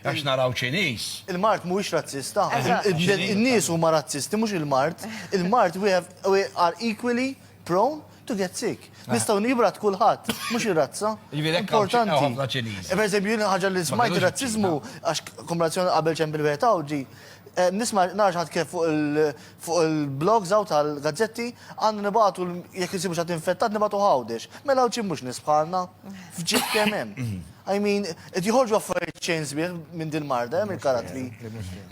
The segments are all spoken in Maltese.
Għax naraw Ċiniż. Il-mard mhuwiex razzista. In-nies huma razzisti mhux il-mard. Il-mard we are equally prone to get sick. Nistgħu nibrat kulħadd, mhux ir-razza. Importanti. Ħafna Ċiniż. Per eżempju, ħaġa li smajt razzizmu għax kombinazzjoni qabel ċempil wieħed Nisma' narax ħadd kif fuq il- Fuq il-blogs hawn tal-gazzetti għandna nibagħtu jekk insibu xi ħadd infettat nibagħtu Għawdex. Mela hawn xi mhux nies bħalna? F'ġid kemm hemm. I mean, qed joħorġu affarijiet xejn sbieħ minn din marda, hemm il-karattri.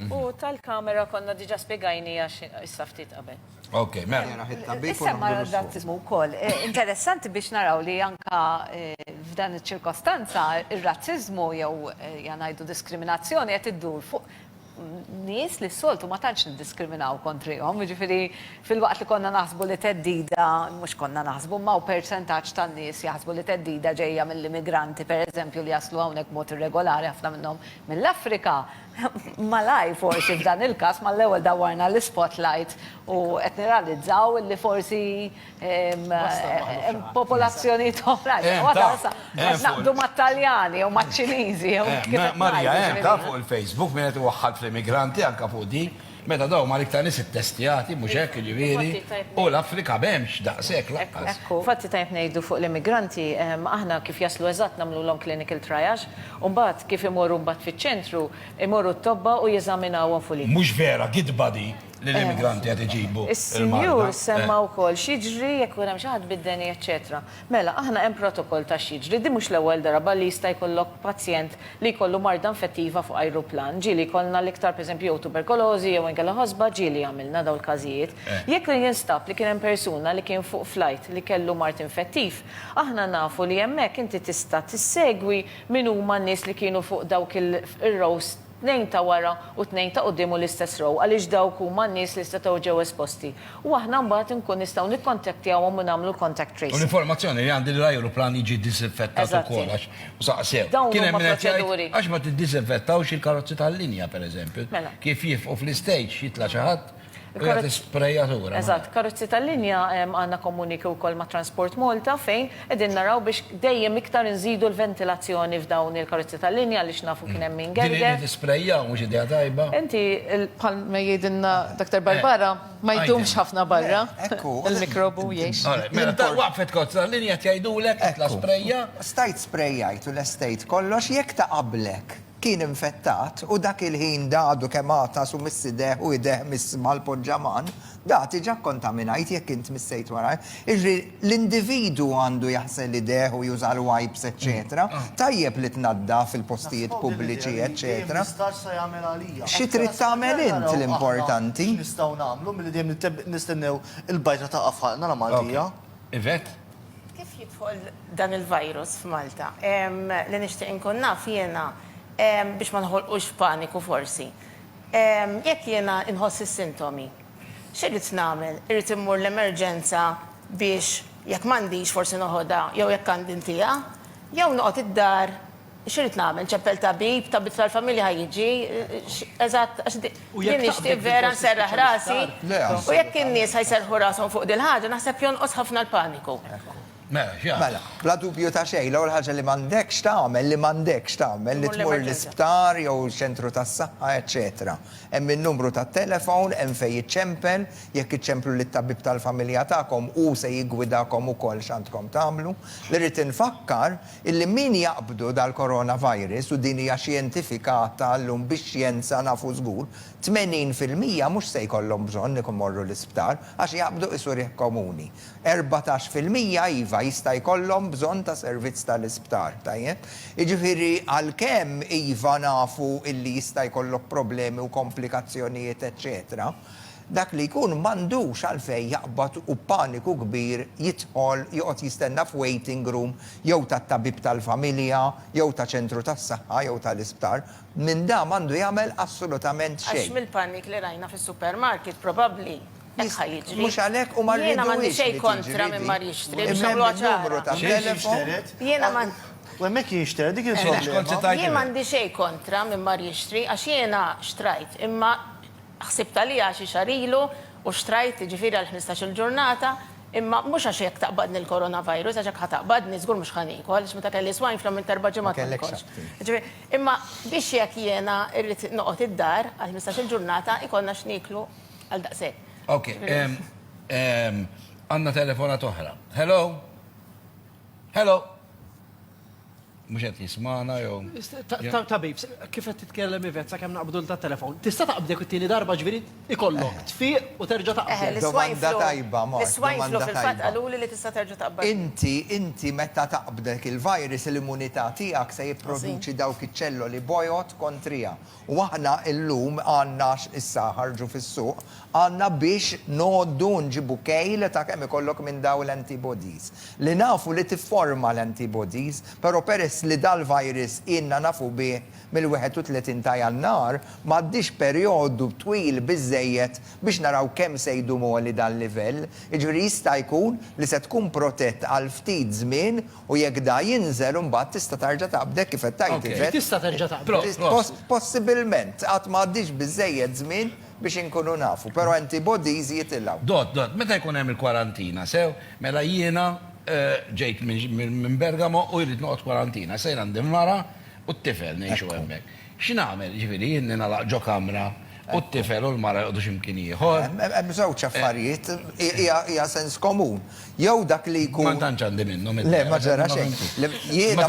U tal-kamera konna diġà spjegajniha issa ftit qabel. Ok, mela. Issemma r-razziżmu wkoll. Interessanti biex naraw li anke f'dan iċ-ċirkostanza r-razziżmu jew ja ngħidu diskriminazzjoni qed iddur fuq nies li s-soltu ma tantx niddiskriminaw kontrihom, jiġifieri fil-waqt li konna naħsbu li theddida, mhux konna naħsbu, imma hawn persentaġġ tan-nies jaħsbu li theddida ġejja mill-immigranti pereżempju li jaslu hawnhekk b'mod irregolari ħafna minnhom mill-Afrika, malajr forsi f'dan il-każ mal-ewwel dawwarna l-ispotlight u qed nirrealizzaw li forsi Popolazzjonijiet oħra. Naqdu mat-Taljani jew maċ-Ċiniżi jew. Marija, hemm ta' fuq il-Facebook min qed iwaħħal fl-immigranti anke fuq di. Meta dawn huma l-iktar nies ittestjati, mhux hekk, jiġifieri, u l-Afrika m'hemmx daqshekk lanqas. Infatti tajjeb ngħidu fuq l-immigranti, aħna kif jaslu eżatt nagħmlulhom clinical triage, u mbagħad kif imorru mbagħad fiċ-ċentru, imorru t-tobba u jeżaminawhom fuq l-. Mhux vera, gidba di. Lill-immigranti qed iġibu l-marda. Is-Sinjur semma wkoll x'jiġri jekk ikun hemm xi ħadd bid-deni eċċetera. Mela, aħna hemm protokoll ta' x'jiġri. Din mhux l-ewwel darba li jista' jkollok pazjent li jkollu marda infettiva fuq ajruplan. Ġieli jkollna l-iktar pereżempju jew tuberkolożi jew inkella ħosba, ġieli għamilna dawn il-każijiet. Jekk jinstab li kien hemm persuna li kien fuq flajt li kellu mard infettiv, aħna nafu li hemmhekk inti tista' tissegwi min huma n-nies li kienu fuq dawk ir-rows tnejn ta' wara u tnejn ta' quddiem u l-istess row għaliex dawk huma n-nies li setgħu ġew esposti u aħna mbagħad inkun nistgħu nikkontaktjawhom u nagħmlu l-contact tracing. U l-informazzjoni li għandi li l-ajruplan jiġi ddiżinfettat ukoll għax saqsew. Kien hemm min qed jgħid għax ma tiddiżinfettawx il-karozzi tal-linja, pereżempju, kif jifqu fl-istage jitla' xi ħadd, Jagħti sprejatura. Eżatt, karozzi tal-linja għandna komuniki wkoll ma' Transport Malta fejn qegħdin naraw biex dejjem iktar inżidu l-ventilazzjoni f'dawn il-karozzi tal-linja għaliex nafu kien hemm min gerger. Din li tisprejjaw mhux idea tajba. Inti bħal ma jgħidilna Doctor Barbara ma jdumx ħafna barra il-mikrobu jgħix. Mela waqfet karozza tal-linja qed jgħidulek itla' sprejja. Stajt sprejjajt u lestejt kollox jekk taqabblek. Kien infettat u dak il-ħin dadu kemm għatas u miss idejh u idejh miss mal-poġġaman, da tiġa kkontaminajt jekk int missejt wara. Jiġifieri l-individwu għandu jaħsel idejh u juża l-wipes eċċetera. Tajjeb li tnaddaf il-postijiet pubbliċi eċċetera. Xi trid tagħmel int l-importanti. X'nistgħu nagħmlu milli dejjem nistennew il-bajtra taqa' f'ħalqna la Maltija. Yvette? Kif jidħol dan il-virus f'Malta? Li nixtieq inkun naf jiena, biex ma noħolqux paniku forsi, jekk jiena nħoss is-sintomi, x'irrid nagħmel? Irrid immur l-emerġenza biex jekk m'għandix forsi noħodha jew jekk għandi ntiha? Jew noqgħod id-dar X'irid nagħmel? Nċeppel tabib? Tabib tal-familja ħa jiġi? Eżatt, għax din nixtieq vera nserraħ rasi. U jekk in-nies ħa jserrħu rashom fuq dil-ħaġa, naħseb jonqos ħafna l-paniku. Mela, x'jagħmel? Mela, bla dubju ta' xejn, l-ewwel ħaġa li m'għandekx tagħmel, li m'għandekx tagħmel, li tmur l-isptar jew ċentru tas-saħħa, eċċetera. Hemm in-numru tat-telefon, hemm fejn jiċċempel, jekk iċċemplu lit-tabib tal-familja tagħkom, hu se jiggwidakom ukoll x'għandkom tagħmlu. Li rrid infakkar, Illi min jaqbdu dal-coronavirus, u din hija xjentifika għadha llum bix-xjenza nafu żgur, 80 fil-mija mhux se jkollhom bżonn ikun morru l-isptar għax jaqbdu qisu riħ komuni. Erbatax fil-mija iva jista' jkollhom bżonn ta' servizz tal-isptar, tajjeb? Jiġifieri għalkemm iva nafu illi jista' jkollok problemi u komplikazzjonijiet eċċetera, Dak li jkun m'għandux għalfejn jaqbad u b'paniku kbir jidħol joqgħod jistenna f'waiting room jew tat-tabib tal-familja jew ta' ċentru tas-saħħa jew tal-isptar. Minn da m'għandu jagħmel assolutament Għax xejn. mill-panic li rajna fis-supermarket probabbli hekk ħa jiġri. Mhux għalhekk u ma rridux li tiġri di. Jiena m'għandi xejn kontra min mar jixtri biex nagħmluha ċara. Xejn xixteret? Jiena ma. U hemmhekk jinxteret, dik il-problema. Jien m'għandi xejn kontra min mar jixtri għax jiena xtrajt imma Ħsibt għaliha xi xahar ilu u xtrajt, jiġifieri għal ħmistax-il ġurnata, imma mhux għax jekk taqbadni l-coronavirus, għax jekk ħa taqbadni żgur mhux ħa niekol, għaliex meta kelli swine flu għamilt erba' ġimgħat ma niekolx. Jiġifieri, imma biex jekk jiena rrid noqgħod id-dar għal ħmistax-il ġurnata jkollna x'nieklu għal daqshekk. Ok, għandna telefonata oħra. Hello? Hello? Mhux qed jismana jew. Tabib, kif qed titkellem Ivet sa kemm naqbdu ta' telefon. Tista' taqbdek it-tieni darba ġifieri ikollok eh. tfiq u terġa' taqbad. Eh, domanda tajba, ma. Is-swine flu fil-fatt qaluli li tista' terġa' taqbad. Inti, inti meta taqbdek il-virus l-immunità tiegħek se jipproduċi dawk iċ-ċelloli bojod kontrija U aħna illum għandna għax issa ħarġu fis-suq, għandna biex ngħoddu u nġibu kejl ta' kemm ikollok minn dawn l-antibodies. Li nafu li tifforma l-antibodies, però peress li dal-virus ilna nafu bih mill-31 ta' Jannar, m'għaddiex perjodu twil biżżejjed biex naraw kemm se jdum għoli dal-livell, jiġifieri jista' jkun li se tkun protett għal ftit żmien U jekk da jinżel imbagħad tista' tarġa' taqbd hekk kif qed tgħid, Ivet? Tista' terġa' taqbad. Possibilment. Għad ma għaddiex biżżejjed żmien biex inkunu nafu, però antibodies jitilgħu. Dott, dott, meta jkun hemm il-kwarantina, sew? Mela jiena ġejt minn Bergamo u jrid noqgħod kwarantina. Sejr għand il-mara u t-tifel ngħixu hemmhekk. X'nagħmel, jiġifieri jien ningħalaq ġo kamra u t-tifel u l-mara joqogħdu xi mkien ieħor? Hemm żewġ affarijiet, hija sens komun. Jew dak li jkun. Ma tantx għandi minnhom id-dehra. Le, ma ġara xejn. Jiena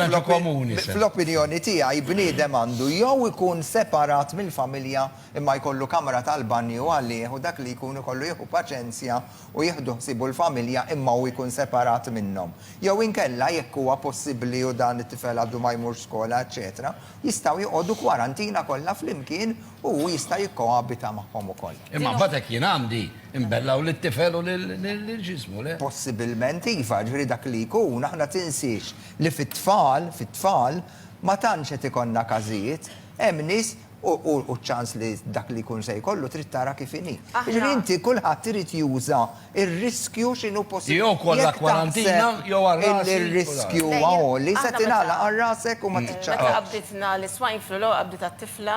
fl-opinjoni tiegħi bniedem għandu jew ikun separat mill-familja imma jkollu kamra tal-banju għalih u dak li jkun ikollu jieħu paċenzja u jieħdu ħsiebu l-familja imma hu jkun separat minnhom. Jew inkella jekk huwa possibbli u dan it-tifel għadu ma jmurx skola eċċetera, Jistgħu joqogħdu kwarantina kollha flimkien u hu jista' jikkoabita magħhom ukoll. Imma mbagħad hekk jien għandi nbellaw lit-tifel u lil ġismu, le? Possibilment iva, jiġifieri dak li jkun, aħna tinsiex li fit-tfal, fit-tfal, ma tantx qed ikollna każijiet, hemm nies u ċ-ċans li dak li jkun se jkollu trid tara kif inhi. Jiġifieri inti kulħadd irid juża Ir-riskju x'inhu possibbli. Jew kollha kwarantina jew għal rasi. Illi r-riskju huwa għoli se tingħalaq għal rasek u ma tiċċaqalqx. Meta qabditna l-swine flu l-ewwel qabdiet għat-tifla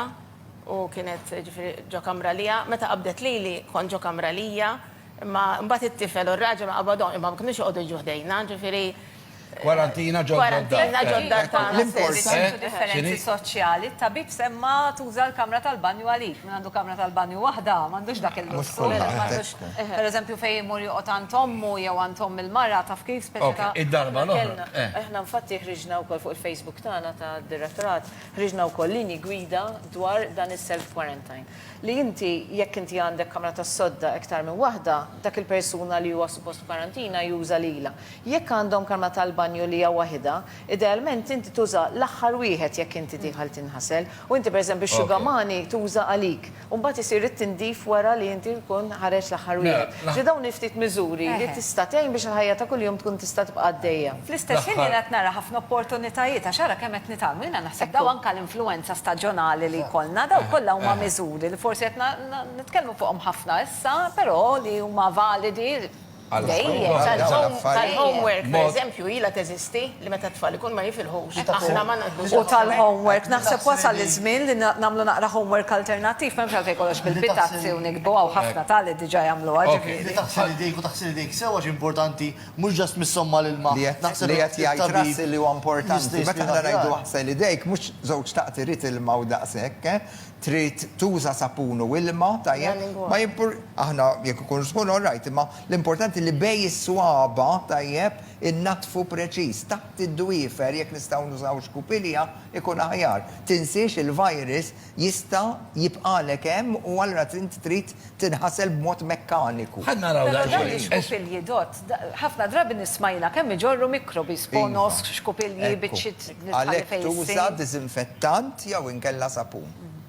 u kienet ġifieri ġo kamra liha. Meta qabdet lili kont ġo kamra lija. Imma mbagħad it-tifel u r-raġel ma qabadhomx imma ma kinux joqogħdu jiġu ħdejna ġifieri. Kwarantina ġod-dottar. Kwarantina ġod-dottar. L-importanti hu d-differenzi soċjali. It-tabib semma tuża l-kamra tal-banju għalik. Min għandu kamra tal-banju waħda m'għandux dak il-lussu. Pereżempju fejn imur joqgħod għand ommu jew għand omm il-mara taf kif speċi ta'. Id-darba l-oħra. Aħna infatti ħriġna wkoll fuq il-Facebook tagħna tad-direttorat, ħriġna wkoll linji gwida dwar dan is-self quarantine. Li inti jekk inti għandek kamra tas-sodda iktar minn waħda, dak il-persuna li huwa suppost f'kwarantina juża lilha. Jekk għandhom kamra tal-banju li hija waħidha, idealment inti tuża l-aħħar wieħed jekk inti tidħal tinħasel, u inti pereżempju x-xugamani tuża għalik, u mbagħad isir it-tindif wara li inti tkun ħareġt l-aħħar wieħed. Ġifieri dawn il-ftit miżuri li tista' tgħin biex il-ħajja ta' kuljum tkun tista' tibqa' għaddejja. Fl-istess ħin jiena qed nara ħafna opportunitajiet għax ara kemm qed nitgħallmu. Jiena naħseb dawn anke l-influwenza staġjonali li jkollna, dawn kollha huma miżuri li forsi qed nitkellmu fuqhom ħafna issa, però li huma validi, Tal-homework, per eżempju, ilha teżisti li meta t-tfal ikunu ma jifilħux, aħna ma ngħaddux għal-homework. U tal-homework, naħseb wasal iż-żmien li nagħmlu naqra homework alternattiv, m'hemmx għalfejn kollox bil-pitazzi u nikbu, hawn ħafna tali diġà jagħmluha, ġifieri. Li taħsel idejk u taħsel idejk sew għax importanti, mhux just missihom mal-ilma. Li qed jgħid Russell li huwa importanti, meta aħna ngħidu aħsel idejk, mhux żewġt daqt irid ilma u daqshekk, trid tuża sapun u ilma, tajjeb, ma jimpur, aħna jekk ikun żħun all right, imma l-importanti li bejn is-swaba', tajjeb, innaddfu preċiż, taħt id-dwiefer jekk nistgħu nużaw xkupilja ikun aħjar. Tinsiex il-virus jista' jibqagħlek hemm u allura int trid tinħasel b'mod mekkaniku. Ħa naraw daqsxejn. Però dawn ix-xkupilji dott, ħafna drabi nisma' jiena kemm iġorru mikrobi, sponos, xkupilji, biċċiet li tħalli fejn issir. Għalhekk tuża diżinfettant jew inkella sapun.